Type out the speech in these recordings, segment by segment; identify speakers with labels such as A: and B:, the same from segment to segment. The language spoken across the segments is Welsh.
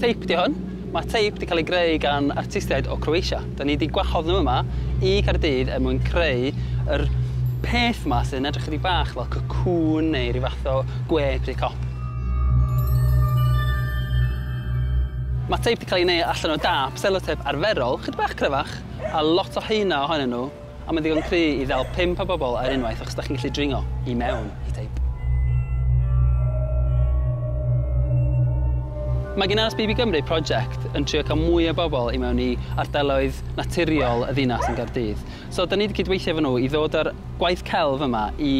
A: Teip 'di hwn. Ma' teip 'di ca'l ei greu gan artistiaid o Croatia. Dan ni 'di gwahodd nhw yma i Gaerdydd er mwyn creu yr peth 'ma sy'n edrych chydig bach fel cocoon neu ryw fath o gwe pry cop. Ma'r teip 'di cael ei wneud allan o dâp selotêp arferol, chydig bach cryfach, a lot o heina ohonyn nhw. Ond mae'n ddigon cry i ddal pump o bobl ar unwaith achos da chi'n gallu dringo i mewn i teip. Mae gan RSPB Gymru project yn trio cael mwy o bobl i mewn i ardaloedd naturiol y ddinas yn Gaerdydd. So da ni wedi cydweithio efo nhw i ddod â'r gwaith celf yma i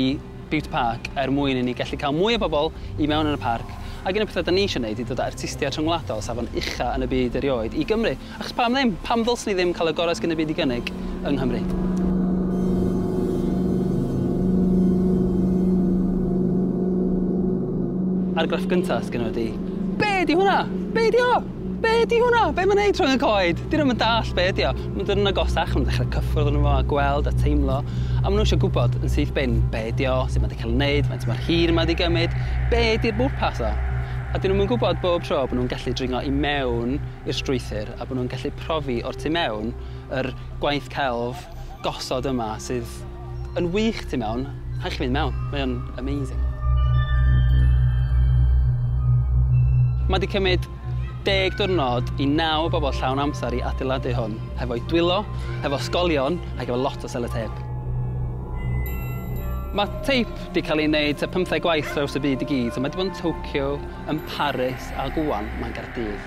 A: Bute Park er mwyn i ni gallu cael mwy o bobl i mewn yn y parc ac un o'r pethau da ni eisiau gwneud i ddod â artistiaid rhyngwladol safon ucha' yn y byd erioed i Gymru. Achos pam ddim? Pam ddylsen ni ddim cael y gorau sydd gen y byd i gynnig yng Nghymru? Argraff gyntaf sydd gennyf ydi, be di hwnna? Be di o? Be di hwnna? Be mae'n neud rhwng y coed? Di nhw'm yn dallt be ydi o. Mae'n dod yn agosach, mae'n dechrau cyffwrdd yn fo a gweld a teimlo, a maen nhw eisiau gwybod yn syth bin be di o, sut mae wedi cael ei wneud, faint mae'r hir yma wedi gymryd, be di'r bwrpas o? A dyn nhw'm yn gwybod bob tro bod nhw'n gallu dringo i mewn i'r strwythur a bod nhw'n gallu profi o'r tu mewn yr gwaith celf gosod yma sydd yn wych tu mewn. Rhaid chi fynd mewn, mae o'n amazing. Mae wedi cymryd deg diwrnod i naw o bobl llawn amser i adeiladu hwn, hefo'i dwylo, hefo sgolion ac efo lot o seloteip. Mae teip wedi cael ei wneud tua pymtheg gwaith traws y byd i gyd, so mae wedi bod yn Tokyo, yn Paris a rŵan mae Gaerdydd.